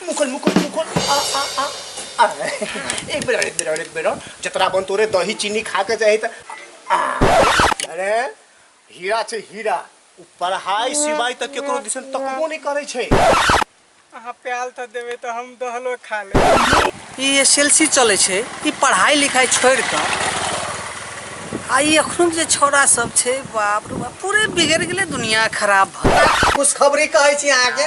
मुकुल मुकुल मुकुल आ आ आ आ एक बेर और, एक बेर और, एक बेर और। जतरा बन तोरे दही चीनी खा के जाही त आ अरे हीरा छै हीरा उ पढ़ाई सिवाय तक केकरो दिसन तकबो नहीं करे छै अहाँ प्याल तऽ देबै तऽ हम दहलो खा लेब ई एस एल सी चलै छै ई पढ़ाइ लिखाइ छोड़ि कऽ आ ई एखन जे छौड़ा सब छै बाप रे बाप पूरे बिगड़ि गेलै दुनिया खराब भऽ गेलै। खुशखबरी कहै छी अहाँके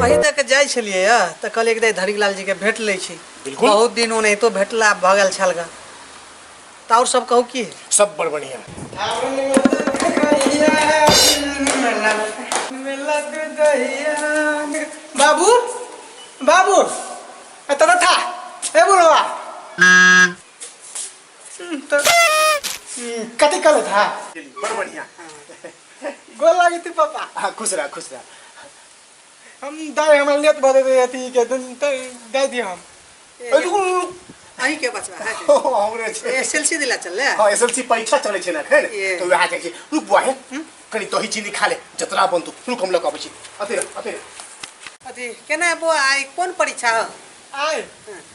वही दऽ के जाइ छलियै यऽ तऽ कहलियै कि दाइ धरीलाल जीके भेट लै छी बिल्कुल। बहुत दिन ओनाहितो भेटला भऽ गेल छल गा तऽ आओर सब कहू की सब बड़ बढ़िया बाबू बाबू ए तोरा था ए बुढ़वा कथी कहले था बड़ बढ़िया गोल लागे थे पापा हाँ खुश रहा खुश रहा हम दाई हमारे लेत भर दे अथी के दिन ते दे दियो हम अरे रुक, रुक, रुक। अहीं के बचवा है ओ, हमरे छै। एसएलसी दिला चल ले हाँ एसएलसी परीक्षा चले छै ना एखन ये। तो वहाँ जाए छै रुक बुआ है कनी दही चीनी खा ले जतरा बन तू रुक हम लग अबै छी अते रह, अते रह। अथी केना बो आइ कोन परीक्षा हो आए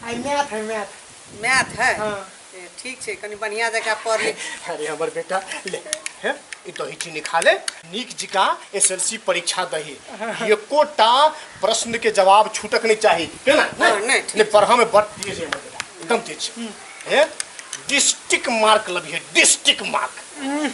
आई मैथ है मैथ मैथ है हाँ। ए, ठीक छै कनी बढ़िया जका पढ़ ले अरे हमर बेटा ले हे ई दही चीनी खा ले नीक जिका एसएलसी परीक्षा दही एकोटा प्रश्न के जवाब छूटक नहीं चाही है ना हाँ, नहीं, नहीं ठीक ले पढ़ा में बड़ तेज है हमर बेटा एकदम तेज है डिस्ट्रिक्ट मार्क लबी है डिस्ट्रिक्ट मार्क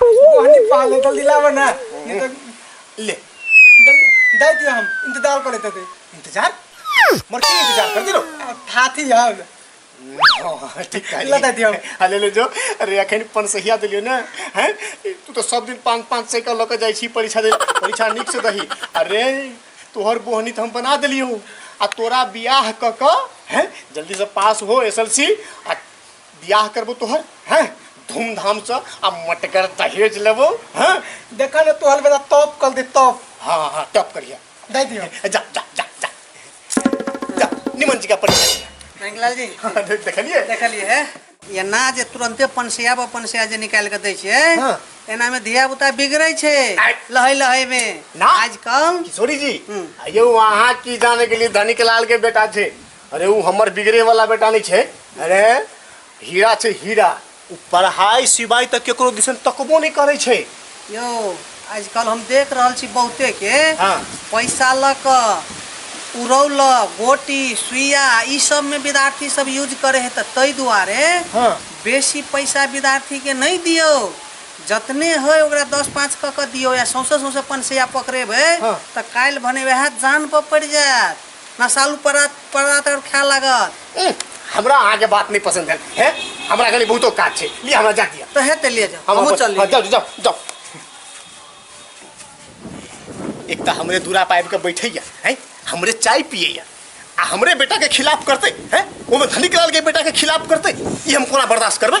कोहनी पाल है जल्दी लावा ना नहीं तो ले जल्दी दे दिया हम इंतजार कर लेते थे इंतजार मर के इंतजार कर दिलो थाथी आओ ना हाँ, ठीक है ला दे दिया हम। हाँ, ले ले जो अरे अखन पन सहिया दिलियो ना हैं तू तो सब दिन पाँच पाँच सौ का लऽ के जाइ छी परीक्षा दे परीक्षा नीक से दही अरे तोहर बोहनी तो हम बना देलियो आ तोरा बियाह क क हैं जल्दी से पास हो एस एल सी आ बियाह करबो तोहर हैं धूमधाम से आ मटगर दहेज लेबो हैं देखा ना तोहर बेटा टॉप कर दे टॉप हाँ हाँ टॉप करिया दे दियो जा जा जा जा जा निमन जी का परिचय दिया। रंगलाल जी हाँ, दे- देखलिए देखलिए है ये ना जे तुरंते पनसिया पर पनसिया जे निकाल के दै छै हाँ। एना में धिया पुता बिगड़ै छै आइ। लहै लहै में ना। आजकल किशोरी जी हम्म। ये वहाँ की जाने के लिए धनिक लाल के बेटा थे अरे वो हमर बिगड़े वाला बेटा नहीं छे अरे हीरा छे हीरा वो पढ़ाई सिवाय तक केकरो दिसन तकबो नहीं करे छे यो आजकल हम देख रहल छी बहुते के हाँ। पैसा ल क उड़ौल गोटी सुइया ई सब में विद्यार्थी सब यूज करे है त तै दुआरे हाँ। बेसी पैसा विद्यार्थी के नहीं दियो जतने है ओकरा दस पाँच क के दियो या सौंसे सौंसे पनसैया पकड़ेबे हाँ। त काल्हि भने वएह जान पर पड़ जायत नशालू परा परात और खाए लागत उह, हमरा अहाँ के बात नहीं पसंद है हैं? हमरा कनी बहुतो काज छै लिए हमरा जा दिया तो हेते ले जाओ हम हमहूँ अपन- चल हाँ, जाओ जाओ जाओ एक तो हमरे दूरा पाइप के बैठे या हैं हमरे चाय पिए या आ हमरे बेटा के खिलाफ करते हैं ओमे धनिक लाल के बेटा के खिलाफ करते ई हम कोना बर्दाश्त करबे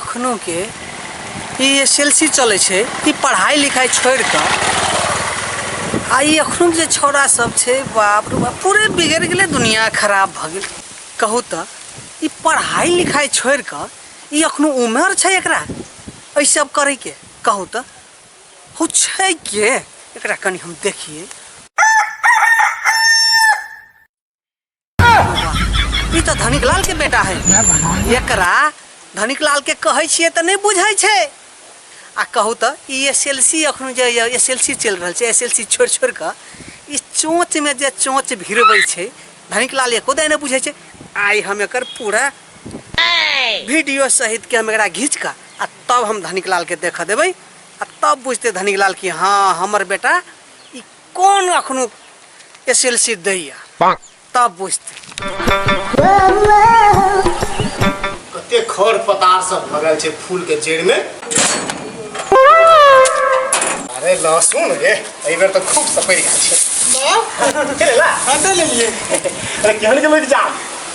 अखनोके ई एस एल सी चलै छै ई पढ़ाइ लिखाइ छोड़ि कऽ आ ई अखनो जे छौड़ा सब छै बाप रे बाप पूरे बिगड़ि गेलै दुनिया खराब भऽ गेल कहू तऽ ई पढ़ाइ लिखाइ छोड़ि कऽ ई अखनो उमर छै एकरा एहि सब करैके कहू तऽ हो छै के एकरा कनि हम देखिए ई तऽ धनिक लाल के बेटा है एकरा धनिक लाल के कहै छियै तऽ नहि बुझै छै आ कहू तऽ ई एस एल सी एखन जे एस एल सी चलि रहल छै एस एल सी छोड़ि छोड़ि कऽ ई चोँचमे जे चोँच भिरबै छै धनिक लाल एको दाय नहि बुझै छै आइ हम एकर पूरा वीडियो सहित के हम एकरा घींच कऽ आ तब हम धनिक लाल के देखऽ देबै आ तब बुझते धनिक लाल कि हाँ हमर बेटा कोन अखनो एस एल सी दैया तब बुझते कते खर पतार सब भरल छै फूल के जड़ में अरे लहसुन गे एहि बेर तऽ खूब सपरि गेल छै ले ला हटा लेलिए अरे केहन के लग जा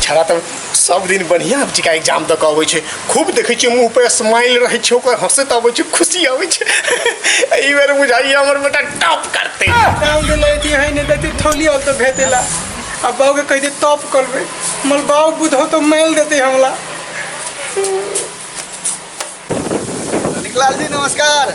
छड़ा तऽ सब दिन बढ़िया टीका एग्जाम दऽ कऽ अबै छै खूब देखै छियै मुँह पर स्माइल रहै छै ओकर हंसैत अबै छै खुशी अबै छै एहि बेर बुझाइए हमर बेटा टॉप करतै गाँव के लड़की है नहीं देती थोली और तो भेटेला अब बाबू के कह दे टॉप करबे मल बाबू बुधो तो मेल देते हमला निकलाल जी नमस्कार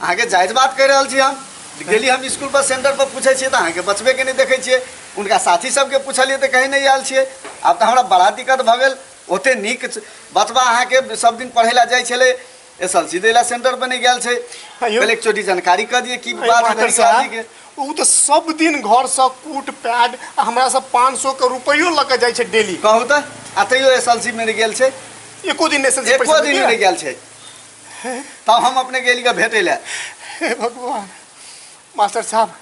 अहाँके जायज बात कहि रहल छी हम गेली हम स्कूल पर सेंटर पर पूछे छियै तऽ अहाँके बचबे के नहि देखै छियै उनका साथी सबके पूछलियै तऽ कहीं नहीं आयल छियै आब तऽ हमरा बड़ा दिक्कत भऽ गेल ओते नीक बचबा अहाँके सब दिन पढ़े ला जाइ छलै एस एल सी दै ला सेंटर पर नहि गेल छै कल एक चोटी जानकारी कऽ दिए की बात है शादी के ओ तऽ सब दिन घर से कूट पैड आ हमरा से पाँच सौ के रुपयो लऽ के जाइ छै डेली कहू तऽ आ तैयो एस एल सी मे नहि गेल छै एको दिन एस एल सी एको दिन नहि गेल छै तब हम अपने गेली का भेटे ले हे भगवान मास्टर साहब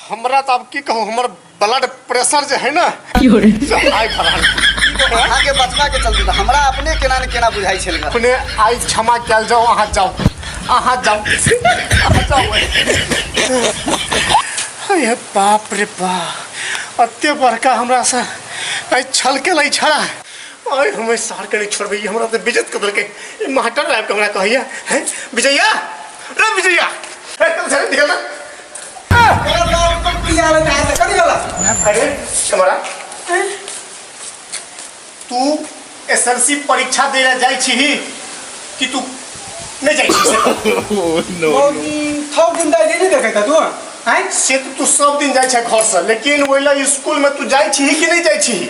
हमरा तो अब की कहूँ हमर ब्लड प्रेशर जो है ना से हाई भरा अहाँ के बचना के चलते तऽ हमरा अपने केना ने केना बुझाई छल गे। अपने आई क्षमा कल जाओ अहाँ जाओ अहाँ जाओ अहाँ जाओ हे बाप रे बाप अते बड़का हमरा से आई छल के लै छड़ा आय हमें सार के नहीं छोड़बे हमरा तो बिजत कदर के ई मास्टर साहब के हमरा कहैया हैं विजया रे विजया ए कल से निकल ना अरे हमारा तू एसएलसी परीक्षा देला जाय छी ही कि तू नहीं जाय छी से से तो तू सब दिन जाय छै घर से लेकिन ओइला स्कूल में तू जाय छी ही कि नहीं जाय छी ही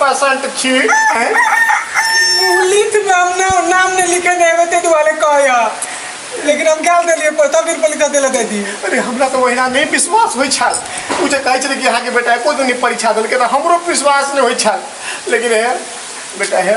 पसंद छी लिख में हम ना नाम नहीं लिखे नहीं वो तेरे वाले कहा यार लेकिन हम क्या दे लिए पता फिर पल का दिला दे दी अरे हमरा तो वहीना नहीं विश्वास होई छल उ जे कहै छले कि अहाँ के बेटा एको दिन परीक्षा देलकै त हमरो विश्वास नहीं होई छल लेकिन है बेटा है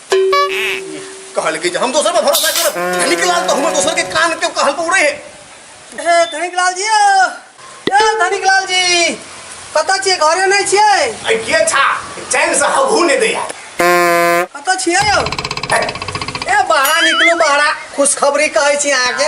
कहल के जे हम दोसर पर भरोसा करब धनिक लाल तो हमर दोसर के कान के कहल पर उड़े है ए धनिक लाल जी ओ, ए धनिक लाल जी कतऽ छियै घरे नहि छियै अरे के छा चैन से हबू ने दैया कतऽ छियै यौ ए बहरा निकलू बहरा खुशखबरी कहै छी अहाँके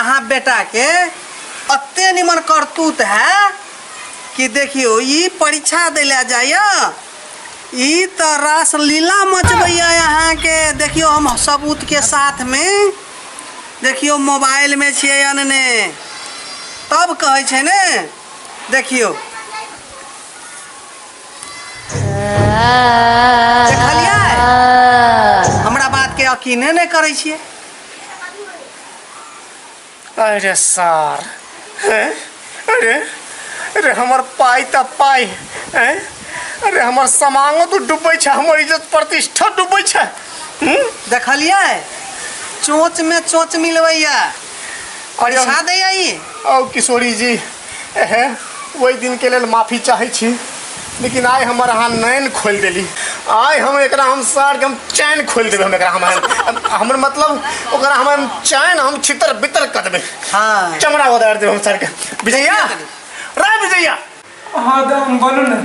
अहाँ बेटा के अते निमन करतूत है कि देखियो ई परीक्षा दिला जाइए ई तो रास लीला मचबैया यहाँ के देखियो हम सबूत के साथ में देखियो मोबाइल में छियै अनने तब कहै छै ने देखियो देखलियै हमरा बात के यकीने नहि करै छियै अरे सार हैं? अरे अरे हमर पाइ तऽ पाइ हैं? अरे हमर समांगो तऽ डूबै छै हमर इज्जत प्रतिष्ठा डूबै छै हूँ? देखलियै चोंच में चोंच मिलबैया अरे परीक्षा दैया ई औ किशोरी जी एहे ओहि दिन के लेल माफी चाहे छी लेकिन आइ हमर अहाँ नैन खोल देली आइ हम एकरा हम सार के हम चैन खोल देबे हम एकरा हम हमर मतलब ओकरा हम चैन हम छितर बितर कर देबे हाँ। चमड़ा उदार देबे हम सार के विजया रे विजया हाँ तो हम बोलू ना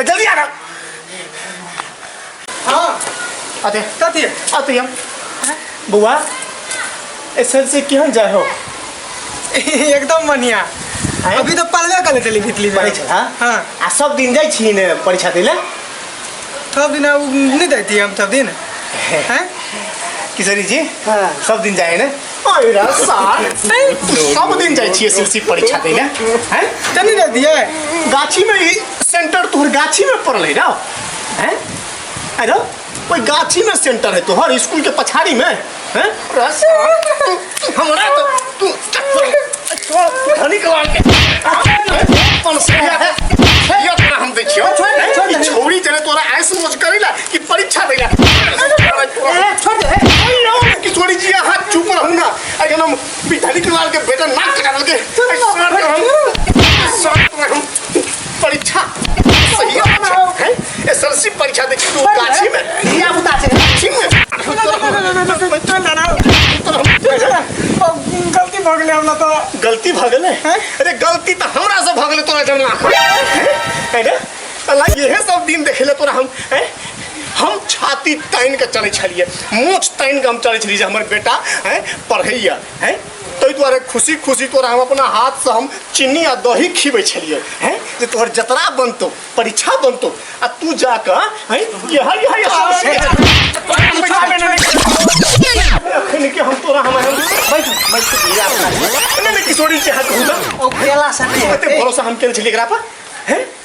ए, जल्दी आ रहा हाँ अरे कथी अरे हम बुआ एस एल सी केहन जाए हो एकदम बढ़िया हैं? अभी तो पढ़बे करे चली भितली पढ़ै छल हाँ हाँ आ सब दिन जाइ छी ने परीक्षा दै लए सब दिन अब नहीं देती हम सब दिन हैं किशोरी जी हाँ। सब दिन जाए ने पहिरा सार सब दिन जाइ छियै सिलसी परीक्षा दै लए हैं चली ना दिए गाछी में ई सेंटर तोहर गाछी में पड़लै ना हैं अरे ओइ गाछी में सेंटर है तोहर स्कूल के पछाड़ी में हैं हमरा तो तू चप्पल धनी कलाल के अपन से ये तोरा हम दै छियो ई छौरी जने तोरा आइस मोज करेला कि परीक्षा देला छोड़ दे ओइ नो कि छोरी जी हाथ चुप रहू ना अरे हम धनी कलाल के बेटा नाक कटा देलके परीक्षा सही है एसएलसी परीक्षा दे छी तू गाछी में धिया पुता छै गाछी में गलती भऽ गेलै हमरा तऽ गलती भऽ गेलै अरे गलती तऽ हमरा से भऽ गेलै तोरा जमा है ना साला इहे सब दिन देखले तोरा हम हैं हम छाती तानि के चलै छलिए मोछ तानि के हम चलै छलिए जे हमर बेटा हैं पढ़ैया हैं ताहि दुआरे खुशी खुशी तोरा हम अपना हाथसँ हम चीनी आ दही खिबै छलियै हैं जे तोहर जतरा बनतौ परीक्षा बनतौ आ तू जाकऽ हैं इएह इएह एखन के हम तोरा हम हम- बैठ बैठ इएह अपना लिए। नहि नहि किशोरी छै हाथ घुमा ओ केला से नहीं एते भरोसा हम केने छलियै एकरा पर हैं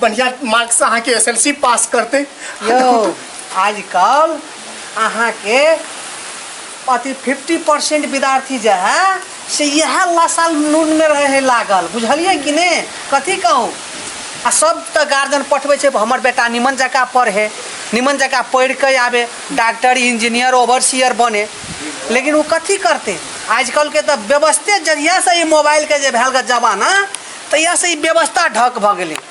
बढ़िया मार्क से अहाँ के एसएलसी पास करते यौ आजकल अहाँके अथी फिफ्टी परसेंट विद्यार्थी जे है से इएह लासाल नूनमे रहै है लागल बुझलियै कि ने कथी कहू आ सब तऽ गार्जियन पठबै छै हमर बेटा निमन जकाँ पढ़े निमन जकाँ पढ़ि कऽ आबे डॉक्टर इंजीनियर ओवरसियर बने लेकिन ओ कथी करतै आजकलके तऽ व्यवस्थे जहियासँ ई मोबाइलके जे भेल जमाना तहियासँ ई व्यवस्था ढक भऽ गेलै